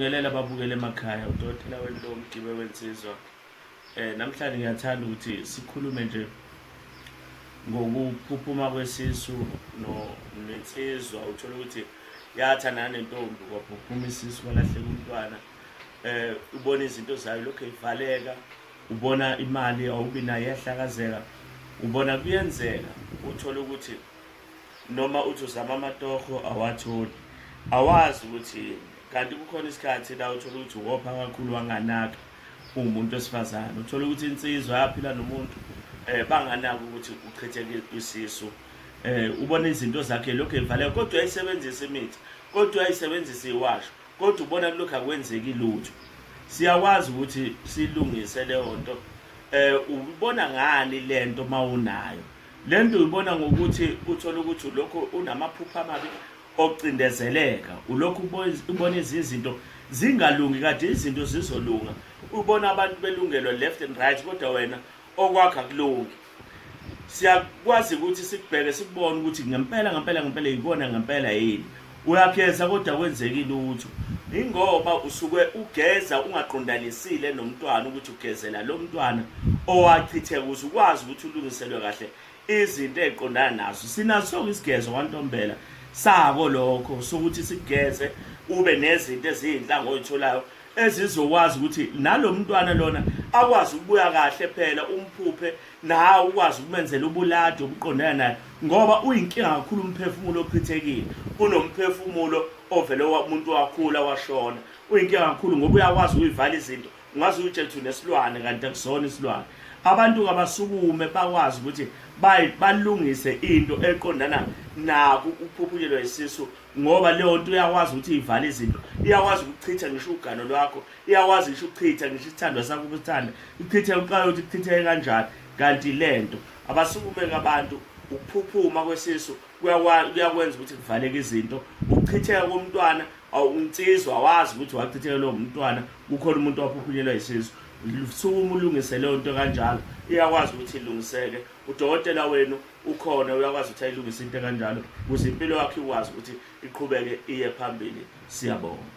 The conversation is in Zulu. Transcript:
Ngelela babukele emakhaya udokotela wentombi Gibe wensizwa eh namhlanje ngiyathanda ukuthi sikhulume nje ngokuphuphuma kwesisu no nensizwa uthola ukuthi yatha nane ntombi kwaphuphuma isisu kwalahleka umntwana eh ubona izinto zayo lokho ivaleka ubona imali awubi nayo yahlakazeka ubona kuyenzeka uthola ukuthi noma uthi uzama amatoho awatholi awazi ukuthi kanti kukhona isikhathi la uthola ukuthi wopha kakhulu wanganaka uwumuntu wesifazane uthola ukuthi insizwa yaphila nomuntu um banganaki ukuthi uchitheke isisu um ubona izinto zakhe lokhu evaleka kodwa uyayisebenzisa imithi kodwa uyayisebenzisa iwasho kodwa ubona kulokhu akwenzeki lutho siyakwazi ukuthi silungise leyo nto um ubona ngani le nto uma unayo Le nto uyibona ngokuthi uthole ukuthi ulokhu unamaphupha amabi okucindezeleka ulokhu ubona izinto zingalungi kade izinto zizolunga ubona abantu belungelwa left and right kodwa wena okwakha kulungi siyakwazi ukuthi sikubheke sikubone ukuthi ngempela ngempela ngempela yikona ngempela yini Uyaphetha kodwa kwenzeki lutho. Ingoba usuke ugeza ungaqondanisile nomntwana ukuthi ugezela lo mntwana owachitheka ukuze ukwazi ukuthi ulungiselwe kahle izinto eziqondana nazo. Sinazo sonke isigezo kwantombela sako lokho sokuthi sigeze ube nezinto ezinhlanga oyitholayo ezizokwazi ukuthi nalo mntwana lona akwazi ukubuya kahle phela umphuphe nawe ukwazi ukumenzela ubuladi obuqondana naye ngoba uyinkinga kakhulu umphefumulo ochithekile kunomphefumulo ovele umuntu wakhula washona uyinkinga kakhulu ngoba uyakwazi ukuyivala izinto ungaze uyitshela ukuthi unesilwane kanti akusona isilwane abantu kabasukume bakwazi ukuthi balungise into eqondana naku ukuphuphulelwa isisu ngoba leyo nto iyakwazi ukuthi ivale izinto iyakwazi ukuchitha ngisho ugano lwakho iyakwazi ngisho ukuchitha ngisho isithandwa sakho ukusithanda ichithe uqayothi ichitheke kanjani kanti le nto abasukumeke abantu ukuphuphuma kwesisu kuyakwenza ukuthi kuvaleke izinto ukuchitheka komntwana awunsizwa wazi ukuthi wachitheka lowo mntwana kukhona umuntu waphuphunyelwa yisisu sukuma ulungise leyo nto kanjalo iyakwazi ukuthi ilungiseke udokotela wenu ukhona uyakwazi ukuthi ayilungise into kanjalo ukuze impilo yakhe ikwazi ukuthi iqhubeke iye phambili siyabonga